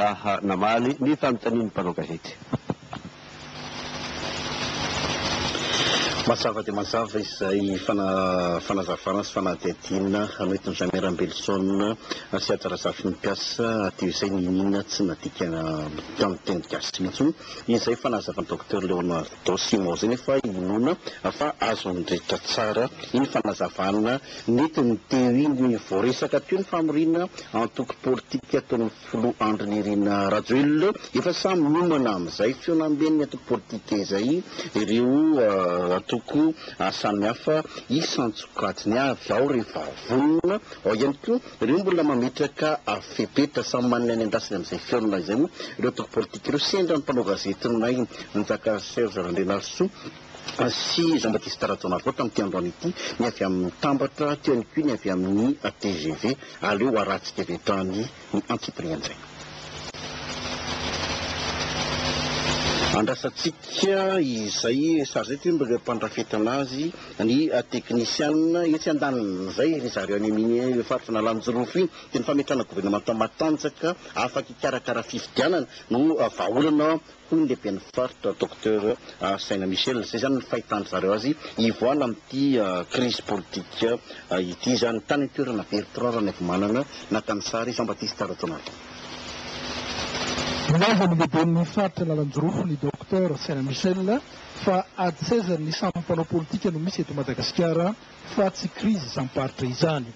raha namaly ny fanontanian'ny mpanao gazety. Mazava dia mazava izay fanazavana sy fanadihadiana noentin-dRamea Rambelison sy Haja Razafinimpiasa teo izay, n'inon'inona tsy nadika tamin'ny teny gasy intsony izay fanazavan'i Docteur Léonard. Don Simon zay nefa inoana fa azo an'ny rehetra tsara iny fanazavana nentiny teo iny hoe voaresaka teo ny famoriana antoko politika ataon'ny filoha Andry Nirina Rajoelina efa samy miomana amin'izay fionamben'ny antoko politika izay ireo antoko samihafa isan-tsokajiny avy ao rehefa vonona ao ihany koa Ireo mbola mametraka fepetra samy manana ny andrasany amin'izay fihaonana izay moa ireo antoko politika ireo sendra ny mpanao gazetinay Njaka Serge Randrianarisoa sy Jean Baptiste Rajaonarivao tamin'ity androany ity, ny avy amin'ny Mitambatra, teo ihany koa ny avy amin'ny tgv. Aleo harahantsika avy hatrany ny antsipirian-tsaina. Andrasantsika izay sazy eto ireo mpandrafetana azy. ny teknisiana etsy andaniny izay ry zareo any amin io faritr'Analanjirofo iny dia ny fametrahana governemanta matanjaka afaka hikarakara fifidianana no vahaolana hoy ny lehiben'ny faritra Docteur Saina Michel, izay izany ny fahitan-dry zareo azy hivoahana amin'ity krizy politika ity izany. Tany an-toerana Bertrand Ranaivomanana naka ny sary, Jean Baptiste Rajaonarison. Nilaza ny lehiben'ny faritra Analanjirofo ny Docteur Saina Michel, fa ady seza ny samy mpanao politika no misy eto Madagasikara fa tsy krizy isam-paritra izany.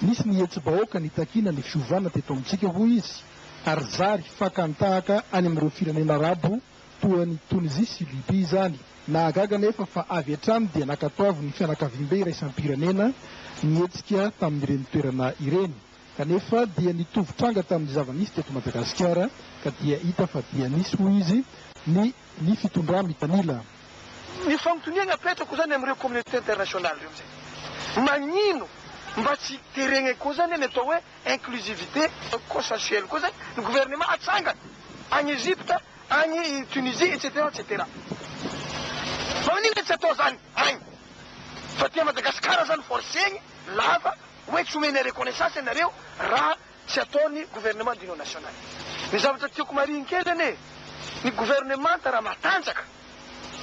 Nisy ny hetsi-bahoaka nitakiana ny fiovana teto amintsika hoy izy ary zary fakan-tahaka any amin'ireo firenena arabo toa an'i Tonizia sy Libia izany. Nahagaga anefa fa avy hatrany dia nankatoavin'ny fianakaviambe iraisam-pirenena ny hetsika tamin'ireny toerana ireny kanefa dia nitovy tranga tamin'ny zava-nisy teto Madagasikara ka dia hita fa dia nisy hoy izy ny ny fitondrà mitanila. Ny fanontoniagna apetrako zany amireo communauté internationale reo amizay, magnino mba tsy teregna koa zany ny atao hoe inclusivité consensuelle koa zany ny gouvernement atsangana agny Egypte, agny Tunisie etc etc. Magnino le tsy atao zany agny fa aty Madagascar zany forcegny lava hoe tsy omenay reconnaissance anareo raha Tsy ataony gouvernement d'union nationale. Ny zavatra tiako marihiny kely anie, ny gouvernemanta raha matanjaka,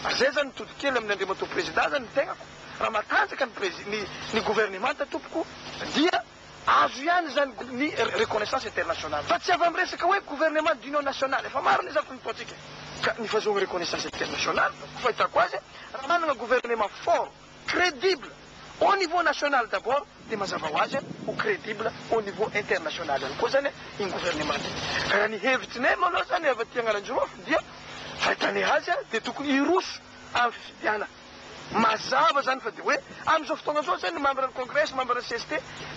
ary zay zany mitody kely amin' Andriamatoa Prezidà zany ny tegnako, raha matanjaka ny prezi, ny, ny gouvernemanta tompoko, dia azo ihany zany gou, ny reconnaissance internationale. Fa tsy avy am resaka hoe gouvernement d'union nationale, efa maro ny zaka nataontsika ka nifazoagna reconnaissance internationale, fahitako azy, raha managna gouvernement fort, Crédible au niveau national d'abord dia mazava ho azy ho crédible au niveau international ihany koa izany iny gouvernement iny. Ka raha ny hevitsinay moa aloha izany avy aty Analanjirofo dia fahitànay azy dia tokony hiroso amin'ny fifidianana. Mazava izany fa dia hoe amin'izao fotoana izao izay ny membre ny congrès, membre ny cst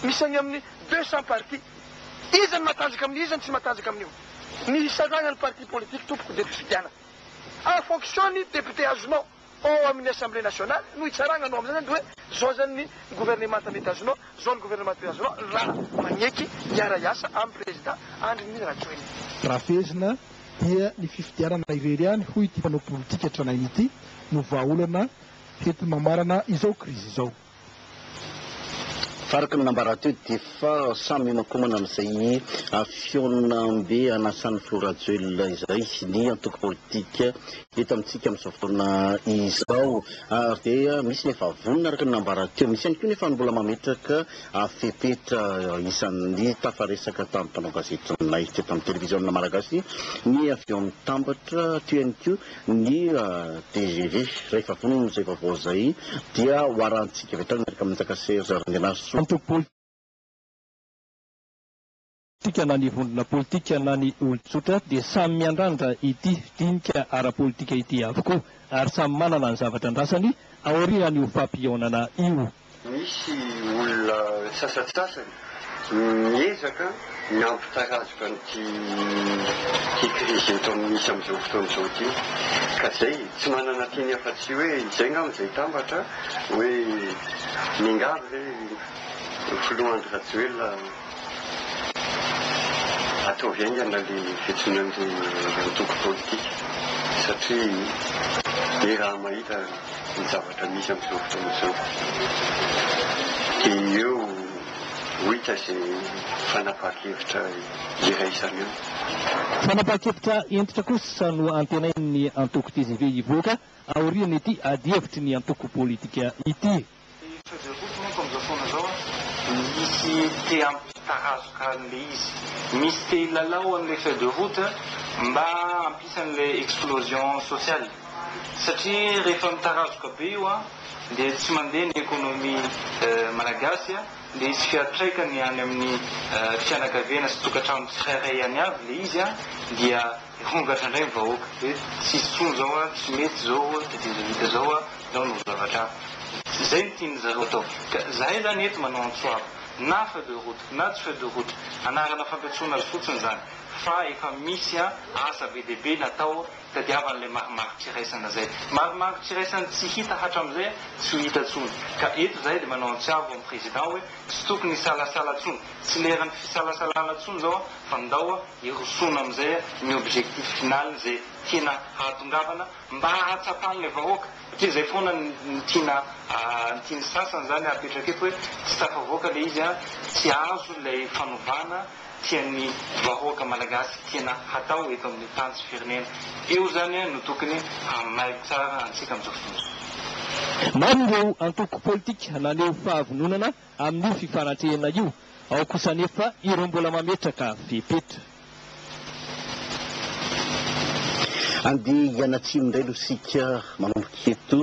misy any amin'ny deux cents partis. Iza ny matanjaka amin'io, iza ny tsy matanjaka amin'io. Ny hisarahana ny parti politique tompoko dia ny fifidianana. En fonction ny député azonao. Ao amin'ny Assemblée Nationale no hitsaragna anao amin'izay zany de hoe zao zany ny gouvernemanta mety azonao, zao ny gouvernemanta mety azonao raha magneky hiara hiasa amin'ny prezida Andry Nirina Rajoelina. Raha fehezina dia ny fifidianana irery ihany hoy ity mpanao politika tranainy ity no vahaolana henti-mamarana izao krizy izao. Araka ny nambarany teo dia efa samy mihomankomana amin'izay fihaonambe anasan'i filoha Rajoelina izay ny antoko politika eto amintsika amin'izao fotoana izao ary dia misy ny efa vonona araka ny nambarany teo, misy ihany koa nefa ny mbola mametraka fepetra isan'ny tafaresaka tamin'ny mpanao gazetinay teto amin'ny televiziona malagasy ny avy ao amin'ny Tambatra teo ihany koa Ny tgv rehefa vonona izay vaovao izay dia ho arahintsika avy hatrany miaraka amin'i Njaka Serge Randrianarisoa. Antoko politika na ny vondrona politika na ny olon-tsotra dia samy miandrandra ity dinika ara-politika ity avokoa ary samy manana ny zavatra andrasany aorianan'io fampihaonana io. Misy olona sasantsasany miezaka ny hampitarazoka an'ity ity krizy eto amin'ny misy amin'izao fotoana izao ity. Ka izay, tsy manana teny afa-tsy hoe izay angamba izay tambatra hoe miangavy re Filoha Andry Rajoelina. Ataovy haingana le fijona ndry antoko politika satria he raha mahita ny zavatra misy amzao fotoana zao de eo ho hita ze fanapaha-kevitra iraisana eo. Fanapaha-kevitra hentitra kosa no antenain'ny antoko tgv hivoaka aorian'ity adihevitry ny antoko politika ity. Ilay Freddy Root manko amin'izao fotoana izao misy te hampitarazoka an'ilay izy. Misy te hilalao an'ilay Freddy Root mba hampisy an'ilay explosion sociale. Satria rehefa mitarazoka be io dia tsy mandeha ny économie malagasy dia hisy fiantraikany any amin'ny fianakaviana sy tokantrano tsirairay any avy ilay izy dia. Mivongatra ndray ny vahoaka eto, tsisy intsony zao a, tsy mety zao a, de dindanita zao a, nao no zavatra hafa. Zay no tian'ny zareo atao. Ka zahay zany eto manao antsoava, na feu de route, na tsy feu de route, anarana fampiantsoana azy fotsiny zany, fa efa misy a asa be dia be natao tadiavan'ilay marimarin-tsiraisana zay. Marimarin-tsiraisana tsy hita hatram'izay a, tsy ho hita tsony. Ka eto zahay de manao antsiavo amin'ny président hoe, tsy tokony hisalasala tsony, tsy leran'ny fisalasalana tsony zao a, fa ndao a, hirosoana amin'izay ny objectif final izay tiana hahatongavana mba hahatsapan'ilay vahoaka satria izay foana no tiana ny tian'ny sasany izany hapetraka eto hoe tsy tafavoaka ilay izy an tsy azo ilay fanovana tian'ny vahoaka malagasy tiana hatao eto amin'ny tany sy firenena eo izany an no tokony hamailo tsara antsika amin'izao fotoana izao. Maro ireo antoko politika naneho fahavononana amin'io fifanantrehina io, ao kosa anefa ireo mbola mametraka fepetra. Andeha hianatsimo indray aloha isika, manomboka eto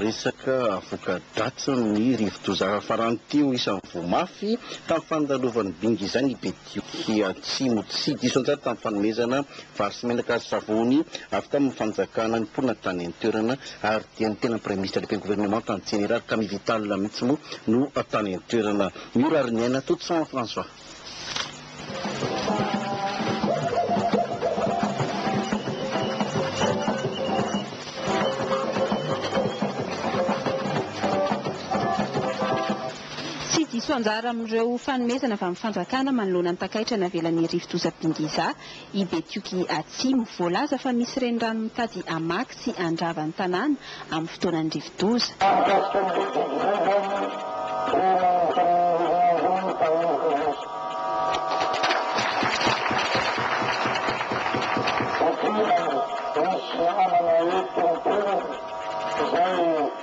resaka voka-dratsin'ny rivodoza farany teo isan'ny voa mafy tamin'ny fandalovan'ny bingy izay ny be. Ety Atsimo, tsy diso anjara tamin'ny fanomezana vary sy menaka ary savony avy tamin'ny fanjakana ny mponina tany an-toerana ary dia ny tena Praiminisitra Lehiben'ny Governemanta ny Jeneraly Camille Vital mihitsy moa no tany an-toerana. Miora ary miaina tout ça en France va? Tsy diso anjara amin'ireo fanomezana avy amin'ny fanjakana manoloana ny takaitra navelan'ny rivodoza Bingiza i Betioky Atsimo. Voalaza fa misy renirano mitady hamaky sy handrava ny tanàna amin'ny fotoanan'ny rivodoza. Mikasika ny rivodoza izany dia nanontanian'ny Renirano Paolo Colasso. Satria misy namana eto an-toerana izay.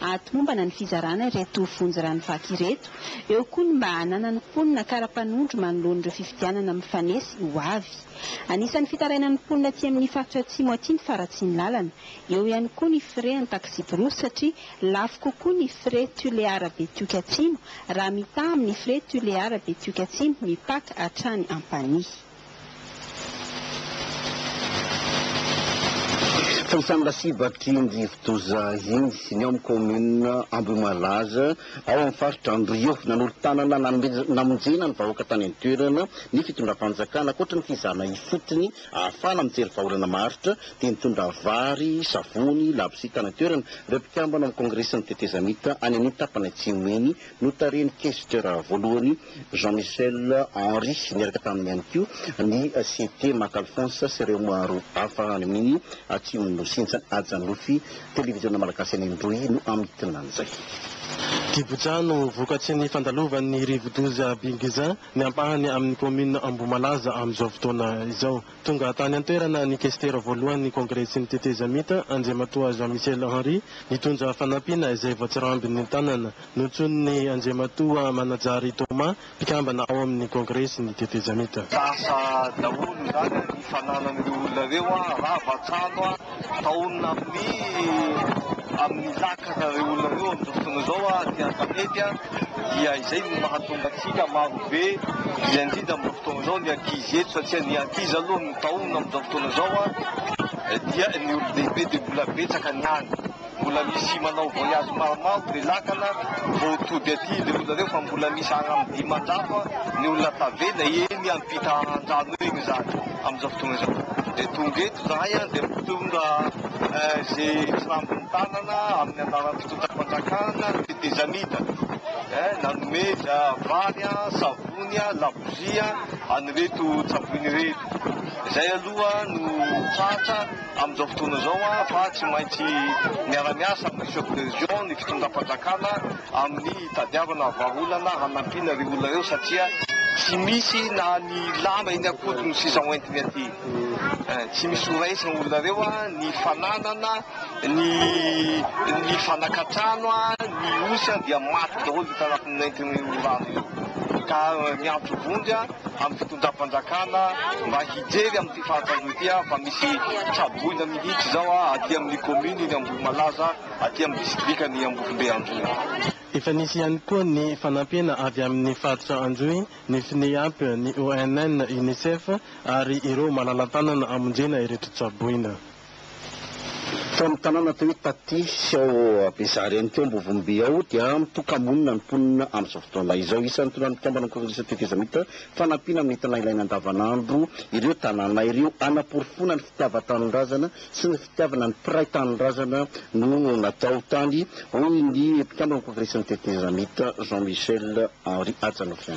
hahatomombana ny fizarana ireto vonjy rano vaky ireto, eo koa ny mba hananan'ny mponina kara-panondro manoloana ireo fifidianana mifanesy ho avy. Anisan'ny fitarainan'ny mponina aty amin'ny faritra Atsimo aty ny faharatsian'ny lalana, eo ihany koa ny frais an'ny taxi-brousse satria lafo kokoa ny frais Tulear Betioky Atsimo raha mitaha amin'ny frais Tulear Betioky Atsimo mipaka hatrany Ampanihy. Tsy misy amin'ny lasibatry iny rivodoza iny ny ao amin'ny kaominina Ambohimalaza, ao amin'ny faritra Andrio. Nanolo-tanana nanomezana namonjena ny vahoaka tany an-toerana ny fitondram-panjakana. Ankoatra ny fizahana ifotony ahafahana mijery vahaolana maharitra dia nitondra vary, savony, labozia tany an-toerana ireo mpikambana ao amin'ny kaongresin'ny tetezamita any an'iny tapany atsimo iny Notarihin'ny Kesitera voalohany Jean Michel Henry niaraka taminy ihany koa ny CT Mac Alphonse sy ireo maro hafa any amin'ny Atsimon'ny Nosy Intsa Ajanofy. Televiziona Malagasy any Androy no hamintina an'izay. Diboja no vokatry ny fandalovan'ny rivodoza Bingizin ny ampahany amin'ny kaominina Ambohimalaza amin'izao fotoana izao. Tonga tany an-toerana ny Kestera voalohan'ny Kongresy ny Tetezamita, Andriamatoa Jean Michel Henry, nitondra fanampiana izay voatsirambin'ny tanana. Nontsoin'ny Andriamatoa Manajary Thomas, mpikambana ao amin'ny Kongresy ny Tetezamita. Lasa daholo izany ny fananan'ireo olona ireo, rava trano, Taonina amin'ny amin'ny lakana ireo olona ireo amin'izao fotoana izao ary ny an-tanety dia izay no mahatonga antsika marobe izay indrindra amin'izao fotoana izao ny ankizy eto satria ny ankizy aloha ny taonina amin'izao fotoana izao dia ny olon-dehibe dia mbola betsaka ny any. Mbola misy manao voyage maromaro dia lakana vao tody aty le olona reo fa mbola misy any am dimanjato ny olona tavela eny ampita andrano eny zany amizao fotoana izao dia tonga eto zahay an dia mitondra ze tsirambin'ny tanana amin'ny anaran'ny fitondram-panjakana tetezamita eh nanome za vary an savony an labozia an an'ireto tsavoina ireto izay aloha no tratra Amin'izao fotoana izao fa tsy maintsy miara-miasa amin'ny chef de région ny fitondram-panjakana amin'ny hitadiavana vahaolana hanampiana ireo olona ireo satria tsy misy na ny lamba eny an-kodiny no sisa hoentiny aty. Tsy misy ho raisin'ny olona ireo ny fananana, ny ny fanankan-trano, ny osa dia maty daholo io tarafin'ny nentin'io rano io ka miantso vonjy amin'ny fitondram-panjakana mba hijery amin'ny. Fantany ity aho fa misy tsaboina mihitsy izao aty amin'ny kaomininy Ambohimalaza, aty amin'ny distrikan'i Ambovombe Androy. Efa nisy ihany koa ny fanampiana avy amin'ny faritra Androy, ny FNIAP, ny ONN, Unicef ary ireo malala-tanana hamonjena ireto tsaboina. Tao amin'ny tanàna atao hoe Tati sy ao Abezary ihany koa Ambovombe ao dia mitoka-monina ny mponina amin'izao fotoana izao. Isan'ny tonan'ny mpikamban'ny Kongresy Tetezamita fanampiana amin'ny entana ilaina andavanandro ireo tanàna ireo. Hanaporofoana ny fitiavan-tanindrazana sy ny fitiavana ny mpiray tanindrazana no natao tany, hoy ny mpikamban'ny Kongresin'ny Tetezamita Jean Michel Henri Hajanofy.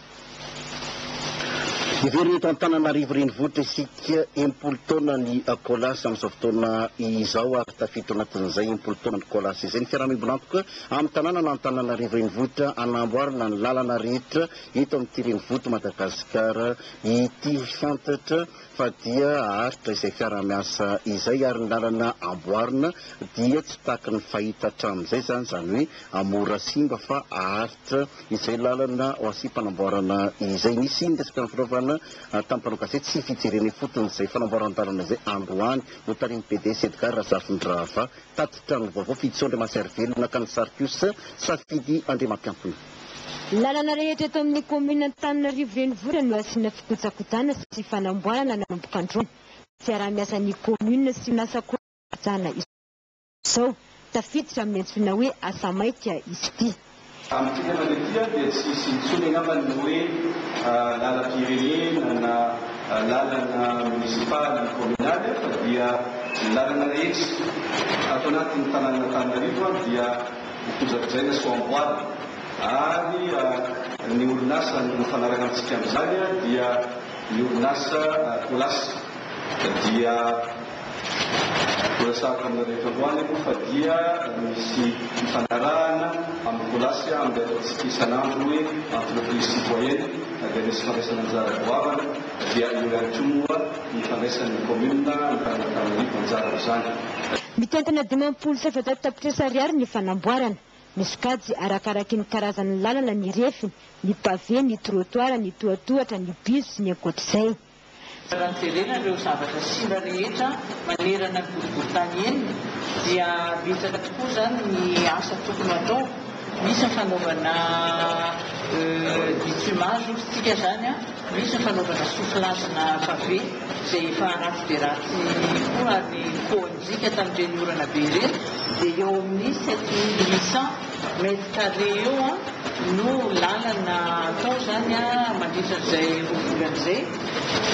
Heverina eto Antananarivo renivohitra isika enimpolo taona ny Colas amin'izao fotoana izao ary tafiditra ao anatin'izay enimpolo taonan'ny Colas izay ny fiaraha-miombon'antoka amin'ny tanànan' Antananarivo renivohitra hanamboarana ny lalana rehetra eto amin'ity renivohit'i Madagasikara ity. Fantatra fa dia haharitra izay fiarahamiasa izay ary ny lalana amboarina dia tsy tahaky ny fahita hatramin'izay izany, izany hoe mora simba fa haharitra izay lalana ho asiam-panamboarana izay. Nisy ny resaka nifanaovana tamin'ny mpanao gazety tsy fijerena ifotony izay fanamboaran-dalana izay androany notarihin'ny PDS Edgard Razafindrahava tatitra ny vaovao fijitsoa Andriamaserivelona ka ny sary kosa safidy Andriamampiampina. Lalana rehetra eto amin'ny kaominina Antananarivo Renivohitra no asiana fikojakojana sy fanamboarana nanomboka androany. Fiaraha-miasan'ny kaominina sy orinasa kojakojana izao. Tafiditra amin'ny antsoina hoe asa maika izy ity. Amin'ity lalana ity dia tsy hisy intsony angamba ny hoe lalam-pirenena na lalana monisipaly na kaominaly fa dia ny lalana rehetra ato anatin'ny tanànan'Antananarivo dia. Kojakojaina sy ho amboarina ary ny orinasa mifanaraka amintsika amin'izany dia ny orinasa Colas dia horesahako aminareo eto androany aloha fa dia misy fifanarahana amin'ny Colas amin'ilay ataontsika isan'andro hoe Entreprise Citoyenne dia misy fandraisana anjara goavana dia eo ihany koa moa ny fandraisan'ny Commune any Antananarivo anjara amin'izany. Mitentina dimampolo sy efajato tapitrisa ariary ny fanamboarana. Misokajy arakaraky ny karazan'ny lalana ny refiny, ny pavé, ny trottoir, ny tohatohatra, ny bus sy ny ankoatr'izay. Raha jerena ireo zavatra simba rehetra manerana ny boriborintany enina dia betsaka tokoa izany ny asa tokony hatao. Misy ny fanaovana bitumage hoy isika izany. Misy ny fanaovana sofilazina fabe izay efa ratsy dia ratsy koa ary ny poanjika tamin'ireny orana be ireny dia eo amin'ny sept mille huit cent mètres carrés eo no lalana atao izany mandritra an'izay roa volana izay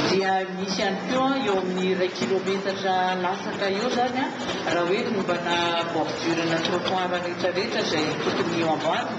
dia misy ihany koa eo amin'ny iray kilometatra latsaka eo izany raha hoe nombana bordure-na trottoir rehetrarehetra izay tokony eo amboarina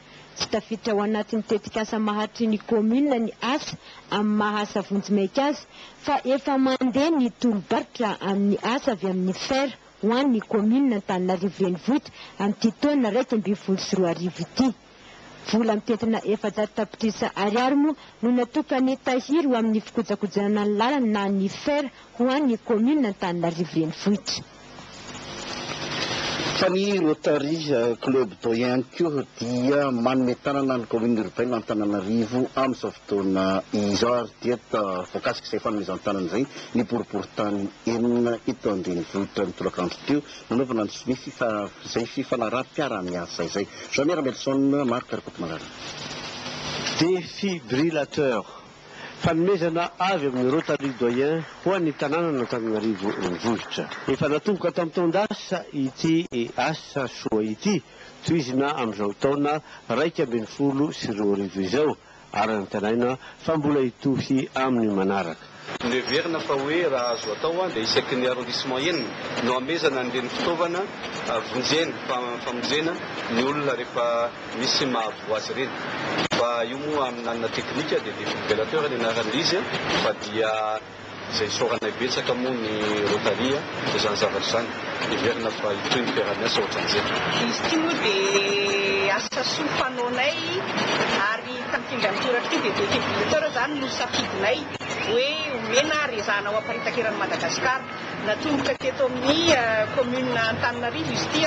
Tsy tafiditra ao anatin'ny tetikasa maharitry ny kaominina ny asa amin'ny maha asa vonjimaika azy fa efa mandeha ny tolo-barotra amin'ny asa avy amin'ny fer ho an'ny kaominina Antananarivo Renivohitra amin'ity taona iraika ambin'ny folo sy roa arivo ity. Vola mitentina efajato tapitrisa ariary moa no natokan'ny tahiry ho amin'ny fikojakojana ny lalana na ny fer ho an'ny kaominina Antananarivo Renivohitra. Fa ny Rotary Club Dô ihany koa dia manome tanana ny Kaominina Urbaine Antananarivo amin'izao fotoana izao ary dia voakasik'izay fanomezan-tanana izay ny Boriborintany enina eto an-drenivohitra ny tolakandro teo nanaovana izay fifanaraham-piaraha-miasa izay. Jean Miera Nelson, Marc Rakotomalala. Défibrillateur. Fanomezana avy amin'ny Rotary Doyen ho an'ny tanànan'Antananarivo Renivohitra. Efa natomboka tamin'ny taon-dasa ity asa soa ity, tohizina amin'izao taona iraika ambin'ny folo sy roa arivo izao ary antenaina fa mbola hitohy amin'ny manaraka. Noheverina fa hoe raha azo atao dia isaky ny arrondissement enina no hamezana an'ireny fitaovana vonjena, famonjena ny olona rehefa. misy mahavoa azy ireny fa io moa amin'anina teknika dia défibrillateur ny anaran'izy fa dia izay isaoranay betsaka moa ny Rotary izany zavatra izany heverina fa hitohy ny fiaraha-miasa ohatran'izay. Izy ity moa dia asa soa fanaonay ary tamin'ity indray mitoraka ity dia défibrillateur izany no safidinay hoe omena ary ezahana ho aparitaka eran'i Madagasikara. Natomboka teto amin'ny kaominina Antananarivo izy ity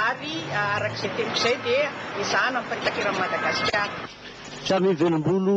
ary araka izay teniko izay dia ezahana miparitaka eran'i Madagasikara. Sary mivelam-bolo